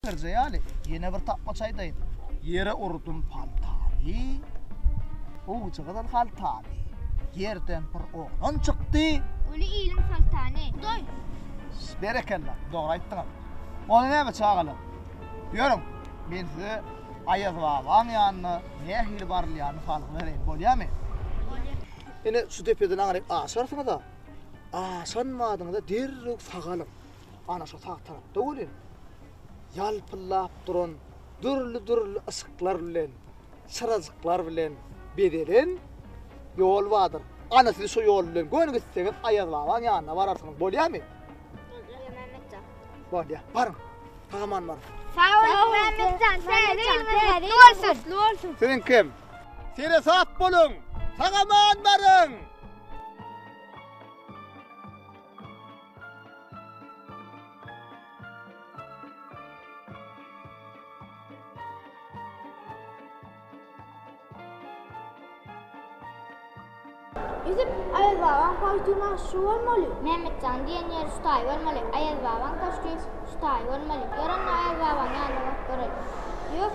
Birje ýaly, ýene bir tapmaç aýdaýyn. Ýere urdum paltany, owjagazal haltany, ýerden bir oglan çykdy. Uly iliň soltany, Hudaý! Berekella, dogry aýtdyňyz. Onda näme, çagalar, ýörüň, men size Aýaz babaň ýanyna nähili barylýanyny salgy bereýin, bolýamy? Bolýar. Ine, şu depeden aňryk aşarsyňyz-a, aşan badyňyzda derrew sagalyň. Ana şu sag tarapda welin ýalpyldap duran dürli-dürli yşyklar bilen, çyrajyklar bilen bezelen ýol bardyr. Ana siz şu ýol bilen göni gitseňiz Aýaz babaň ýanyna bararsyňyz. Bolýarmy? Bolýa. Baryň. Tagaman baryň. Sag boluň Mämmetjan. Täze bolsun. Siziň kim? Sere sap boluň. Tagaman baryň. Ýüzüp Aýaz babaň paltuny şu bolmaly. Mämmetjan diýen ýeri şu taý bolmaly. Aýaz babaň köşgi şu taý bolmaly. Ýörende Aýaz babaň ýanyna baryp göreli. Ýok.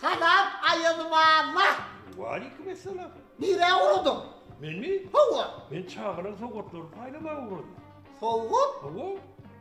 Salam aýazym alla. Waleýkim essalam. Nirä ugradyň? Menmi? Hawa. Men çagalar sowgatlaryny paýlamaga ugradym. Sowgat? Hawa.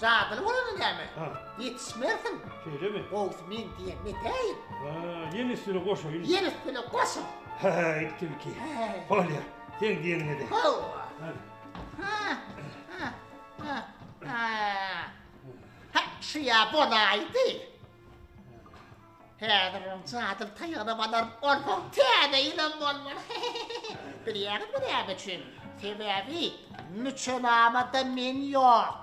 Jadyly bolany näme? Ha. Ýetişmersiň. Şeýlemi? Gowusy men diýen metäýin. Ha, ýene üstüne goşaýyn. Ýene üstüne goşuň. Häýt, tilki. Bolýar. Seň diýeniňe-de. Hawa. Hany. Ha. Ha. Ha. Ha. Ha, şu ýa bolaýdy. Häzir oň jadyly taýagyna badaryp bolsa, täze ýylam bolmaz. Bilýäňizmi näme üçin? Sebäbi müçenamada men ýok.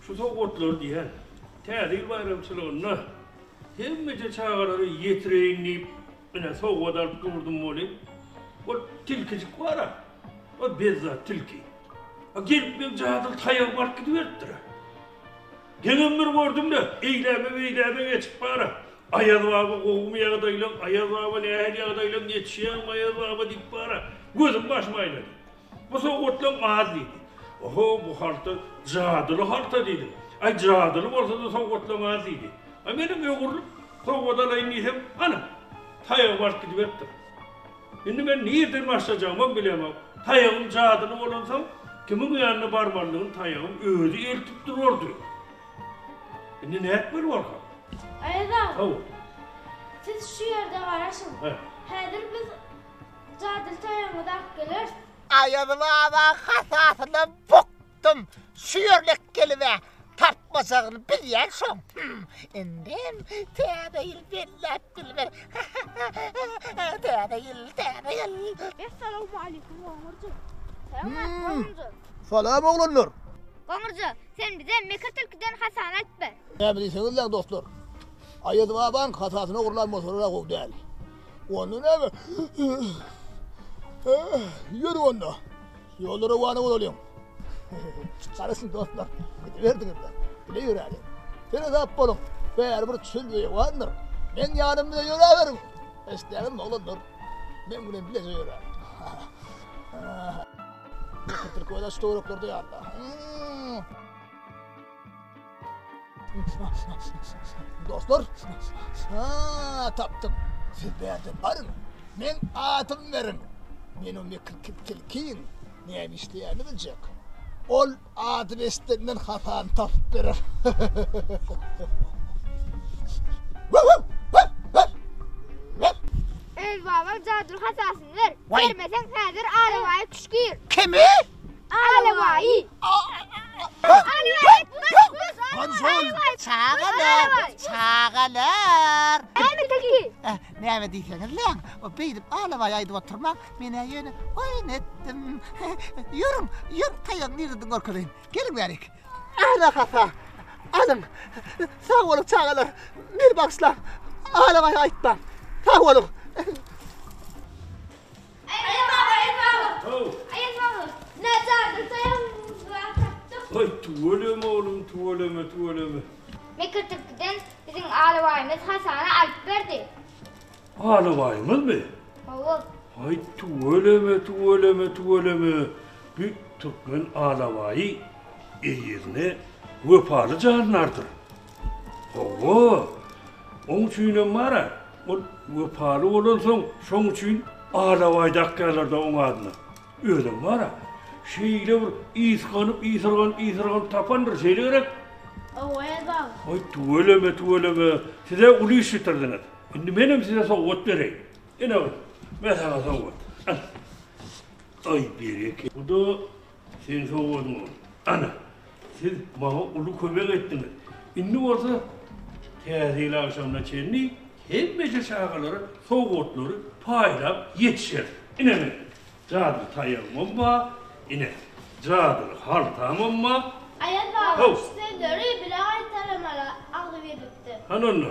Şu sowgatlary diýýän, Täze ýyl baýramçylygynda hemmeje çagalara ýetireýin diýip, ine, sowgat alyp durdum welin, ol tilkijik bar-a, ol bezzat tilki. A gelip meň jadyly taýagymy alyp gidiberipdir-ä. Geňem bir gördüm-de, eýläbe-beýläbe geçip bar-a, Aýaz baba gowumy ýagdaýlaň, Aýaz baba nähili ýagdaýlaň, ýetişýäňmi, Aýaz baba diýip bar-a, gözüm-başym aýlady. Bu sowgatlaň az diýdi. Oho, bu halta jadyly halta diýdim. Aý, jadyly bolsa-da sowgatlaň az diýdi. A menem öwrülip, sowgat alaýyn diýsem, ana, taýagym alyp gidiberipdir. Indi men nireden başlajagymam bilemok. Taýagym jadyly bolansoň, kimiň ýanyna barmalydygym taýagym özi eltip durardy. Indi nätmeli bolsam? Aýazagam. Hawa. Siz şu ýerde garaşyň. Häzir biz Jadyly toýuňyz ak geler. Aýaz baba hasasyna bukdum. Şu ýörlek gelibä tapmajagyny bilýän şoň. Indem Täze ýyl belläp bilmer. Täze ýyl, Täze ýyl. Essalawmaleýkum Goňurjy. Salam Goňurjy. Salam oglanlar. Goňurjy, sen bize Mekir tilkiden hasany aýtber. Näme diýseňiz-le dostlar. Aýaz babaň hasasyny ogurlan bolsalar-a gowy däl. Onda näme? Ýör onda. Ýolda rowana bolalyň. Garaşyň dostlar, gidiberdiňizler. Bile ýöräliň. Sene sap boluň. Bäribir çöl beýewandyr. Meň ýanym bilen ýöräberiň. Eşdäňizmi, oglanlar? Meň bilen bileje ýöräň. Türkmen aç töwerekler diýýär-de. Dostlar, ha, tapdym. Siz bärde baryň. Meň adymy beriň. Men o mekirki tilkiň näme işleýänini biljek. Ol ady beşdenden hasany tapyp berer. Öz babaň jadyly hasasyny ber. Bermeseň, häzir arabaýy küşgir. Kimi? Alawai. Konsul. Çagalar. Çagalar. Näme tilki? Eh, näme diýseňiz leň, o beýdip alawa aýdyp oturmak, men ýöne oýun etdim. Ýörüň, ýör taýak nireden görkezeýin. Geliň bärik. Ana hapa. Alyň. Sag boluň çagalar. Meni bagşlaň. Alawa aýtmaň. Sag boluň. Aýal baba, aýal baba. How. Aýal baba, näçärdir taýagyňyzam tapdyk. Haý, tüweleme oglum, tüweleme, tüweleme. Mekirtipkiden biziň alabaýymyz Hasana alyp berdi. Alabaýymyzmy? Hawa. Haý, tüweleme, tüweleme, tüweleme. Bu türkmen alabaýy eýesine wepaly jandardyr. Hawa, oň üçinem bar-a, ol wepaly bolansoň, şoň üçin alabaý dakýarlar-da oň adyna. Özem bar-a, şeýle bir ysganyp, ýysyrganyp, ýysyrganyp tapandyr, şeýle gerek? Hawa, Erdal. Aý, tüweleme, tüweleme, siz-ä uly iş bitirdiňiz. Indi menem size sowgat bereýin. Ine, men saňa sowgat. Al. Aý, bereket. Bu-da Sen sowadyň ony. Ana, siz maňa uly kömek etdiňiz. Indi bolsa Täze ýyl agşamyna çenli hemmeje çagalara sowgatlary paýlap ýetişeris. Ine men, jadyly taýagymam bar, ine, jadyly haltamam bar. Aýazbaba şu sözleri bile gaýtalamala agzy gelipdi. Hany onda.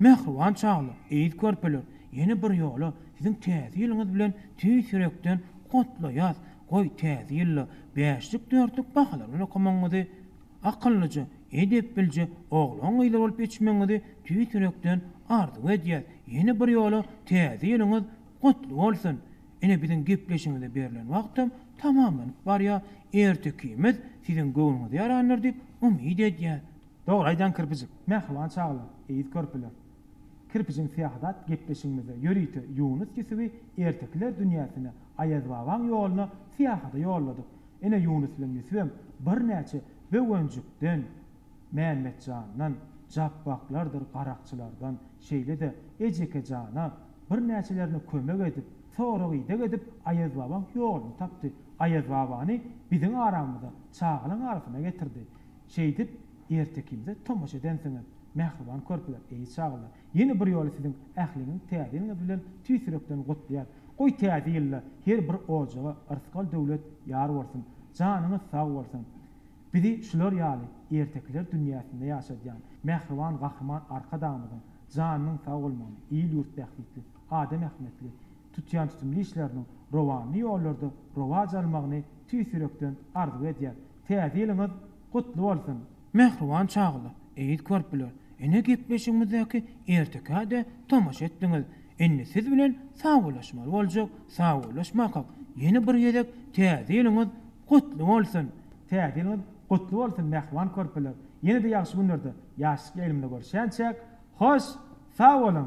Mähriban çagalar, eziz körpeler, ýene bir ýola siziň täze ýylyňyz bilen tüýs ýürekden gutlaýas, goý täze ýylda bäşlik dörtlük bahalar bilen okamagyňyzy, akyllyja, edep bilje oglan gyzlar bolup ýetişmegiňizi tüýs ýürekden arzuw edýäs, ýene bir ýola täze ýylyňyz gutly bolsun, ine biziň gepleşigimize berlen wagtam tamamlanyp barýar, ertekimiz siziň göwnüňize ýarandyr diýip umyt edýäs. Dogry aýdýaň kirpijik. Mähriban çagalar, eýz körpeler. Kirpijiň syýahadat gepleşigimizde ýörite Ýunus Ýusuby ertekiler dünýäsine, Aýazbabaň ýoluna syýahada ýolladyk. Ine Ýunus bilen Ýusubem birnäçe Böwenjikden, Mämmetjandan, Japbaklardyr garakçylardan, şeýle-de Ejeke jana, birnäçelerine kömek edip, sorag-ideg edip Aýazbabaň ýoluny tapdy, Aýazbabany biziň aramyza, çagalaň arasyna getirdi. Şeýdip, erte ikimize tomaşa edensiňiz, mähriban körpeler, eý, çagalar! Ýene bir ýoly siziň ähliňiz Täze ýylyňyz bilen tüýs ýürekden gutlaýar. Goý, Täze ýylda her bir ojaga yrsgal döwlet ýar bolsun, janyňyz sag bolsun! Bizi şular ýaly ertekiler dünýäsinde ýaşadýan mähriban Gahryman Arkadagymyzyň janynyň sag bolmagyny, il-ýurt bähbitli, adam ähmiýetli tutýan tutumly işleriniň rowanly ýollarda rowaç almagyny tüýs ýürekden arzuw edýär. Täze ýylyňyz gutly bolsun! Mähriban çagalar, eziz körpeler, ine gepleşigimizdäki ertekä-de tomaşa etdiňiz, indi siz bilen sagbollaşmaly boljak, sagbollaşmakak, ýene bir gezek Täze ýylyňyz gutly bolsun! Täze ýylyňyz gutly bolsun mähriban körpeler, ýene-de ýagşy günlerde, ýaşlyk ýaýlymynda görüşýänçäk, hoş, sag boluň!